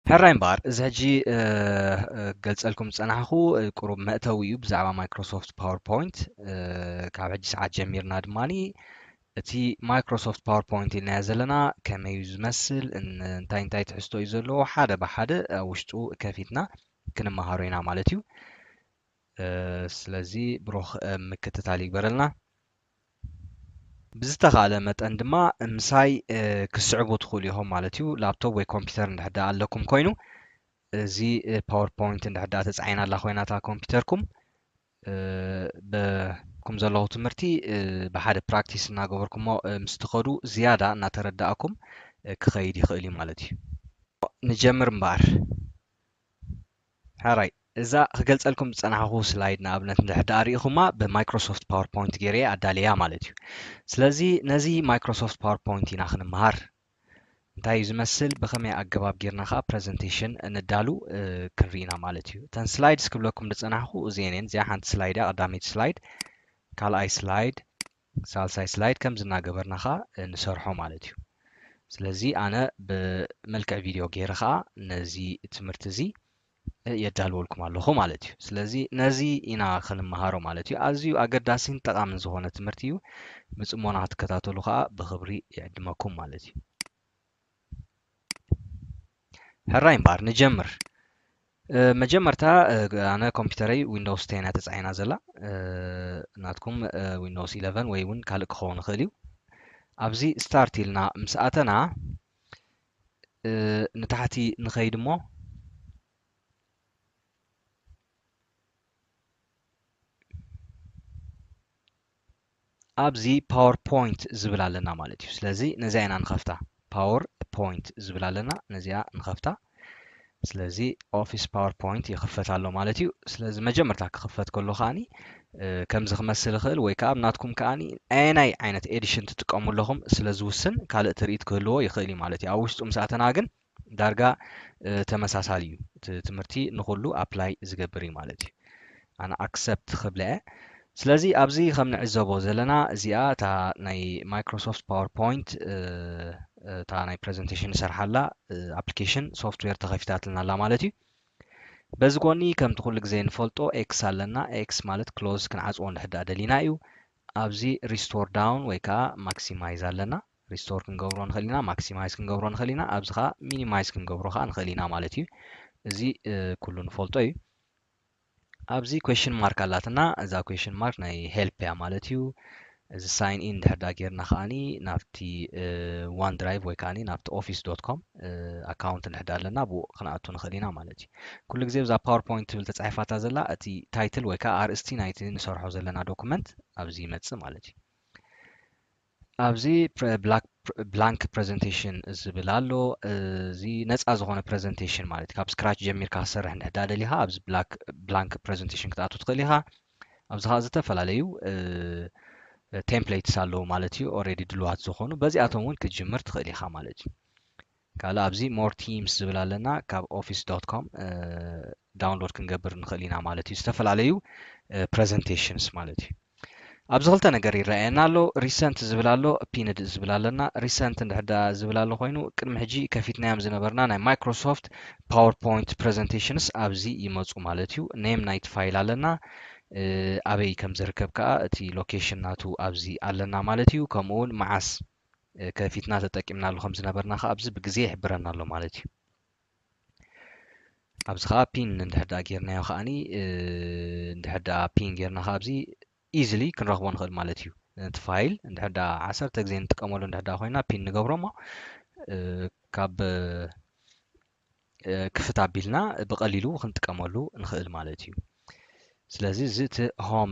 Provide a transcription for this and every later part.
ሕራይ እምበኣር እዚ ሕጂ ገልጸልኩም ዝጸናሕኩ ቁሩብ መእተዊ እዩ ብዛዕባ ማይክሮሶፍት ፓወርፖይንት ካብ ሕጂ ሰዓት ጀሚርና ድማ እቲ ማይክሮሶፍት ፓወርፖይንት ኢልናዮ ዘለና ከመይ እዩ ዝመስል እንታይ እንታይ ትሕዝቶ እዩ ዘለዎ ሓደ ብሓደ ኣብ ውሽጡ ከፊትና ክንመሃሮ ኢና ማለት እዩ ስለዚ ብሩኽ ምክትታል ይግበረልና። ብዝተኻእለ መጠን ድማ ምሳይ ክስዕቡ ትኽእሉ ኢኹም ማለት እዩ ላፕቶፕ ወይ ኮምፒውተር እንድሕር ደኣ ኣለኩም ኮይኑ እዚ ፓወርፖይንት እንድሕር ደኣ ተጻዒና ኣላ ኮይና እታ ኮምፒውተርኩም በኩም ዘለኹ ትምህርቲ ብሓደ ፕራክቲስ እናገበርኩሞ ምስ ትኸዱ ዝያዳ እናተረዳእኩም ክኸይድ ይኽእል እዩ ማለት እዩ ንጀምር እምበኣር ሕራይ እዛ ክገልጸልኩም ዝጸናሕኩ ስላይድ ንኣብነት እንድሕር ደኣ ርኢኹማ ብማይክሮሶፍት ፓወር ፖይንት ገይረ እየ ኣዳልየያ ማለት እዩ። ስለዚ ነዚ ማይክሮሶፍት ፓወር ፖይንት ኢና ክንመሃር። እንታይ እዩ ዝመስል ብኸመይ ኣገባብ ጌርና ከኣ ፕረዘንቴሽን ነዳሉ ክንርኢ ኢና ማለት እዩ። እተን ስላይድስ ክብለኩም ዝጸናሕኩ እዚኤን እየን። እዚኣ ሓንቲ ስላይድ እያ ቀዳመይቲ ስላይድ፣ ካልኣይ ስላይድ፣ ሳልሳይ ስላይድ ከምዚ እናገበርና ከኣ ንሰርሖ ማለት እዩ። ስለዚ ኣነ ብመልክዕ ቪድዮ ገይረ ከኣ ነዚ ትምህርቲ እዚ የዳልወልኩም ኣለኹ ማለት እዩ። ስለዚ ነዚ ኢና ክንመሃሮ ማለት እዩ። ኣዝዩ ኣገዳሲን ጠቓምን ዝኾነ ትምህርቲ እዩ። ብጽሞና ክትከታተሉ ከኣ ብኽብሪ ይዕድመኩም ማለት እዩ። ሕራይ እምበኣር ንጀምር መጀመርታ ኣነ ኮምፒውተረይ ዊንዶውስ ቴን እያ ተፃዒና ዘላ ናትኩም ዊንዶውስ ኢለቨን ወይ እውን ካልእ ክኸውን ይኽእል እዩ ኣብዚ ስታርት ኢልና ምስ ኣተና ንታሕቲ ንኸይድ እሞ ኣብዚ ፓወር ፖይንት ዝብል ኣለና ማለት እዩ ስለዚ ነዚኣ ኢና ንኸፍታ ፓወር ፖይንት ዝብል ኣለና ነዚኣ ንኸፍታ ስለዚ ኦፊስ ፓወርፖይንት ይኽፈት ኣሎ ማለት እዩ ስለዚ መጀመርታ ክኽፈት ከሎ ከዓኒ ከምዚ ክመስል ይኽእል ወይ ከዓ ኣብ ናትኩም ከዓኒ ኣየናይ ዓይነት ኤዲሽን ትጥቀሙ ኣለኹም ስለ ዝውስን ካልእ ትርኢት ክህልዎ ይኽእል እዩ ማለት እዩ ኣብ ውሽጡ ምስ ኣተና ግን ዳርጋ ተመሳሳሊ እዩ እቲ ትምህርቲ ንኹሉ ኣፕላይ ዝገብር እዩ ማለት እዩ ኣነ ኣክሰፕት ክብለ እየ ስለዚ ኣብዚ ከም ንዕዘቦ ዘለና እዚኣ እታ ናይ ማይክሮሶፍት ፓወርፖይንት እታ ናይ ፕሬዘንቴሽን ንሰርሓላ ኣፕሊኬሽን ሶፍትዌር ተኸፊታትልና ኣላ ማለት እዩ በዚ ጎኒ ከምቲ ኩሉ ግዜ ንፈልጦ ኤክስ ኣለና ኤክስ ማለት ክሎዝ ክንዓፅዎ እንድሕዳ ደሊና እዩ ኣብዚ ሪስቶር ዳውን ወይ ከዓ ማክሲማይዝ ኣለና ሪስቶር ክንገብሮ ንኽእል ኢና፣ ማክሲማይዝ ክንገብሮ ንኽእል ኢና፣ ኣብዚ ከዓ ሚኒማይዝ ክንገብሮ ከዓ ንኽእል ኢና ማለት እዩ። እዚ ኩሉ ንፈልጦ እዩ። ኣብዚ ኩዌሽን ማርክ ኣላትና እዛ ኩዌሽን ማርክ ናይ ሄልፕ እያ ማለት እዩ። እዚ ሳይን ኢን ድሕር ዳ ጌርና ከዓኒ ናብቲ ዋን ድራይቭ ወይ ከዓኒ ናብቲ ኦፊስ ዶት ኮም ኣካውንት ድሕር ዳ ኣለና ብኡ ክንኣቱ ንኽእል ኢና ማለት እዩ ኩሉ ግዜ ብዛ ፓወርፖይንት ትብል ተፃሒፋታ ዘላ እቲ ታይትል ወይ ከዓ ኣርእስቲ ናይቲ ንሰርሖ ዘለና ዶኩመንት ኣብዚ ይመፅእ ማለት እዩ ኣብዚ ብላንክ ፕረዘንቴሽን ዝብል ኣሎ እዚ ነፃ ዝኾነ ፕረዘንቴሽን ማለት እዩ ካብ ስክራች ጀሚርካ ክትሰርሕ እንድሕዳ ደሊኻ ኣብዚ ብላንክ ፕረዘንቴሽን ክትኣቱ ትኽእል ኢኻ ኣብዚ ከዓ ዝተፈላለዩ ቴምፕሌትስ ኣለዉ ማለት እዩ ኦረዲ ድልዋት ዝኾኑ በዚኣቶም እውን ክትጅምር ትኽእል ኢኻ ማለት እዩ ካልእ ኣብዚ more themes ዝብል ኣለና ካብ ኦፊስ ዶት ኮም ዳውንሎድ ክንገብር ንኽእል ኢና ማለት እዩ ዝተፈላለዩ ፕረዘንቴሽንስ ማለት እዩ ኣብዚ ክልተ ነገር ይረኣየና ኣሎ ሪሰንት ዝብል ኣሎ ፒንድ ዝብል ኣለና ሪሰንት እንድሕዳ ዝብል ኣሎ ኮይኑ ቅድሚ ሕጂ ከፊትናዮም ዝነበርና ናይ ማይክሮሶፍት ፓወርፖይንት ፕረዘንቴሽንስ ኣብዚ ይመፁ ማለት እዩ ኔም ናይቲ ፋይል ኣለና ኣበይ ከም ዝርከብ ከዓ እቲ ሎኬሽን ናቱ ኣብዚ ኣለና ማለት እዩ ከምኡውን መዓስ ከፊትና ተጠቂምናሉ ከም ዝነበርና ከኣ ኣብዚ ብግዜ ይሕብረና ኣሎ ማለት እዩ ኣብዚ ከኣ ፒን እንድሕር ደኣ ጌርናዮ ከኣኒ እንድሕር ደኣ ፒን ጌርና ከኣ ኣብዚ ኢዝሊ ክንረኽቦ ንኽእል ማለት እዩ ነቲ ፋይል እንድሕር ደኣ ዓሰርተ ግዜ ንጥቀመሉ እንድሕር ደኣ ኮይና ፒን ንገብሮ እሞ ካብ ክፍት ኣቢልና ብቐሊሉ ክንጥቀመሉ ንኽእል ማለት እዩ ስለዚ እዚ እቲ ሆም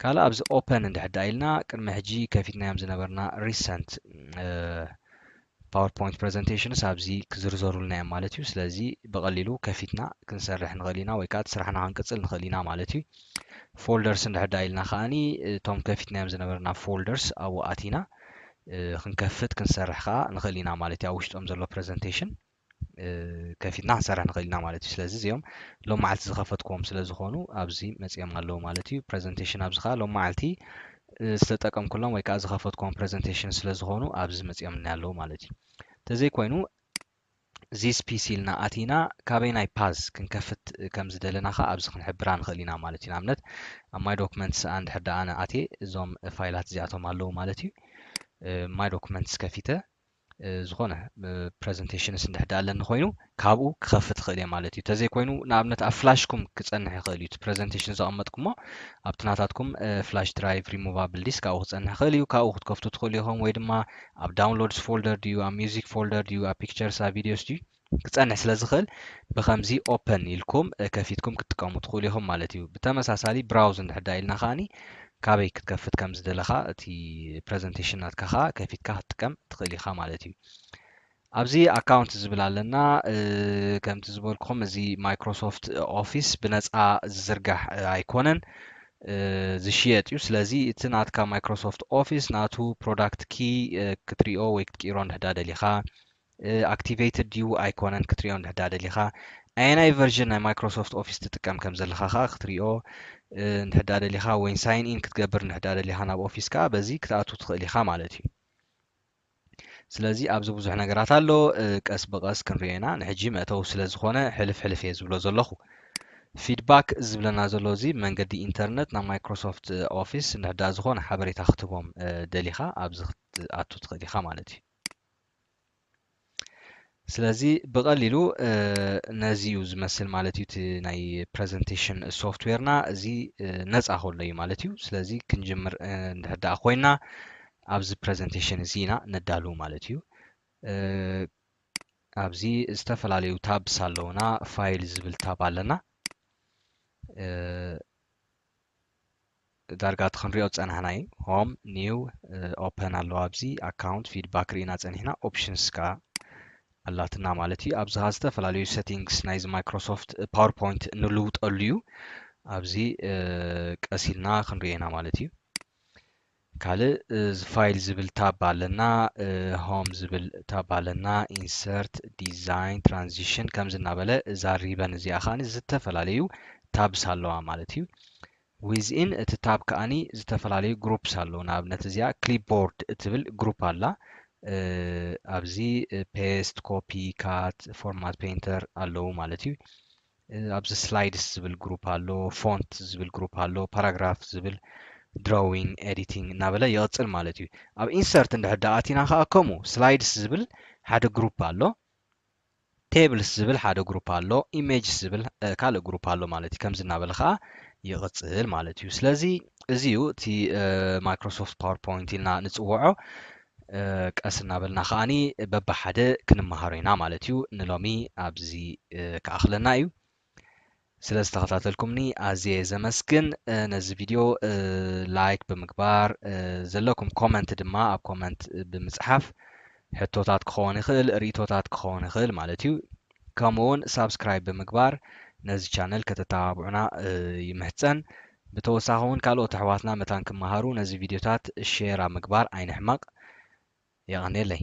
ካልእ ኣብዚ ኦፐን እንድሕር ደኣ ኢልና ቅድሚ ሕጂ ከፊትናዮም ዝነበርና ሪሰንት ፓወርፖይንት ፕሬዘንቴሽንስ ኣብዚ ክዝርዘሩልና እዮም ማለት እዩ ስለዚ ብቐሊሉ ከፊትና ክንሰርሕ ንኽእል ኢና ወይ ከዓ ስራሕና ክንቅፅል ንኽእል ኢና ማለት እዩ ፎልደርስ እንድሕዳ ኢልና ከዓኒ እቶም ከፊትናዮም ዝነበርና ፎልደርስ ኣብኡ ኣቲና ክንከፍት ክንሰርሕ ከዓ ንኽእል ኢና ማለት እዩ ኣብ ውሽጦም ዘሎ ፕሬዘንቴሽን ከፊትና ክንሰርሕ ንኽእል ኢና ማለት እዩ ስለዚ እዚኦም ሎም መዓልቲ ዝኸፈትክዎም ስለ ዝኾኑ ኣብዚ መፅኦም ኣለዉ ማለት እዩ ፕሬዘንቴሽን ኣብዚ ከዓ ሎም መዓልቲ ዝተጠቀምኩሎም ወይ ከዓ ዝኸፈትክዎም ፕሬዘንቴሽን ስለ ዝኾኑ ኣብዚ መፅኦም እና ኣለዉ ማለት እዩ ተዘይኮይኑ ዚስ ፒሲ ኢልና ኣቲና ካበይ ናይ ፓዝ ክንከፍት ከም ዝደለና ከዓ ኣብዚ ክንሕብራ ንኽእል ኢና ማለት እዩ ንኣብነት ኣብ ማይ ዶክመንትስ ኣንድ ሕዳ ኣነ ኣቴ እዞም ፋይላት እዚኣቶም ኣለዉ ማለት እዩ ማይ ዶክመንትስ ከፊተ ዝኾነ ፕረዘንቴሽንስ እንድሕዳ ኣለኒ ኮይኑ ካብኡ ክኸፍት ይኽእል እየ ማለት እዩ ተዘይ ኮይኑ ንኣብነት ኣብ ፍላሽኩም ክፀንሕ ይኽእል እዩ ፕረዘንቴሽን ዘቐመጥኩሞ ኣብቲ ናታትኩም ፍላሽ ድራይቭ ሪሞቫብል ዲስ ካብኡ ክፀንሕ ይኽእል እዩ ካብኡ ክትከፍቱ ትኽእሉ ኢኹም ወይ ድማ ኣብ ዳውንሎድስ ፎልደር ድዩ ኣብ ሚዚክ ፎልደር ድዩ ኣብ ፒክቸርስ ኣብ ቪዲዮስ ድዩ ክጸንሕ ስለ ዝኽእል ብከምዚ ኦፐን ኢልኩም ከፊትኩም ክትጥቀሙ ትኽእሉ ኢኹም ማለት እዩ። ብተመሳሳሊ ብራውዝ እንድሕር ደኣ ኢልና ከኣኒ ካበይ ክትከፍት ከም ዝደለኻ እቲ ፕረዘንቴሽን ናትካ ከኣ ከፊትካ ክትጥቀም ትኽእል ኢኻ ማለት እዩ። ኣብዚ ኣካውንት ዝብል ኣለና ከምቲ ዝበልኩም እዚ ማይክሮሶፍት ኦፊስ ብነፃ ዝዝርጋሕ ኣይኮነን ዝሽየጥ እዩ ስለዚ እቲ ናትካ ማይክሮሶፍት ኦፊስ ናቱ ፕሮዳክት ኪ ክትሪኦ ወይ ክትቅይሮ እንድሕዳ ደሊኻ ኣክቲቨይትድ ድዩ ኣይኮነን ክትሪኦ እንድሕዳ ደሊኻ ኣየናይ ቨርዥን ናይ ማይክሮሶፍት ኦፊስ ትጥቀም ከም ዘለኻ ከኣ ክትሪኦ እንድሕዳ ደሊኻ ወይ ሳይን ኢን ክትገብር እንድሕዳ ደሊኻ ናብ ኦፊስ ከኣ በዚ ክትኣቱ ትኽእል ኢኻ ማለት እዩ ስለዚ ኣብዚ ብዙሕ ነገራት ኣሎ ቀስ ብቐስ ክንሪኦ ኢና ንሕጂ መእተዊ ስለ ዝኾነ ሕልፍ ሕልፍ እየ ዝብሎ ዘለኹ ፊድባክ ዝብለና ዘሎ እዚ መንገዲ ኢንተርነት ናብ ማይክሮሶፍት ኦፊስ እንድሕዳ ዝኾነ ሓበሬታ ክትህቦም ደሊኻ ኣብዚ ክትኣቱ ትኽእል ኢኻ ማለት እዩ ስለዚ ብቐሊሉ ነዚ እዩ ዝመስል ማለት እዩ እቲ ናይ ፕረዘንቴሽን ሶፍትዌርና እዚ ነፃ ከሎ እዩ ማለት እዩ ስለዚ ክንጅምር እንድሕር ደኣ ኮይና ኣብዚ ፕረዘንቴሽን እዚ ኢና ነዳሉ ማለት እዩ ኣብዚ ዝተፈላለዩ ታብስ ኣለውና ፋይል ዝብል ታብ ኣለና ዳርጋ እቲ ክንሪኦ ዝጸናሕና እዩ ሆም ኒው ኦፐን ኣለዋ ኣብዚ ኣካውንት ፊድባክ ርኢና ጸኒሕና ኦፕሽንስ ከኣ ኣላትና ማለት እዩ ኣብዚ ከኣ ዝተፈላለዩ ሰቲንግስ ናይዚ ማይክሮሶፍት ፓወርፖይንት ንልውጠሉ እዩ ኣብዚ ቀሲልና ክንሪኦ ኢና ማለት እዩ ካልእ ፋይል ዝብል ታብ ኣለና ሆም ዝብል ታብ ኣለና ኢንሰርት ዲዛይን ትራንዚሽን ከምዚ እናበለ እዛ ሪበን እዚኣ ከዓኒ ዝተፈላለዩ ታብስ ኣለዋ ማለት እዩ ዊዝኢን እቲ ታብ ከዓኒ ዝተፈላለዩ ግሩፕስ ኣለዉ ንኣብነት እዚኣ ክሊፕቦርድ እትብል ግሩፕ ኣላ ኣብዚ ፔስት ኮፒ ካት ፎርማት ፔንተር ኣለዉ ማለት እዩ ኣብዚ ስላይድስ ዝብል ግሩፕ ኣሎ፣ ፎንት ዝብል ግሩፕ ኣሎ፣ ፓራግራፍ ዝብል ድሮዊንግ ኤዲቲንግ እናበለ ይቕፅል ማለት እዩ። ኣብ ኢንሰርት እንድሕር ዳኣ ኣቲና ከዓ ከምኡ ስላይድስ ዝብል ሓደ ግሩፕ ኣሎ፣ ቴብልስ ዝብል ሓደ ግሩፕ ኣሎ፣ ኢሜጅስ ዝብል ካልእ ግሩፕ ኣሎ ማለት እዩ። ከምዚ እናበለ ከዓ ይቕፅል ማለት እዩ። ስለዚ እዚ እዩ እቲ ማይክሮሶፍት ፓወርፖይንት ኢልና ንፅውዖ። ቀስ እናበልና ከኣ በብሓደ ክንመሃሮ ኢና ማለት እዩ። ንሎሚ ኣብዚ ክኣኽለና እዩ። ስለ ዝተኸታተልኩምኒ ኣዝየ ዘመስግን። ነዚ ቪድዮ ላይክ ብምግባር ዘለኩም ኮመንት ድማ ኣብ ኮመንት ብምጽሓፍ ሕቶታት ክኸውን ይኽእል ርእቶታት ክኸውን ይኽእል ማለት እዩ ከምኡ ውን ሳብስክራይብ ብምግባር ነዚ ቻነል ከተተባብዑና ይምሕጸን። ብተወሳኺ ውን ካልኦት ኣሕዋትና መታን ክመሃሩ ነዚ ቪድዮታት ሼር ኣብ ምግባር ኣይንሕመቕ። የቐንየለይ።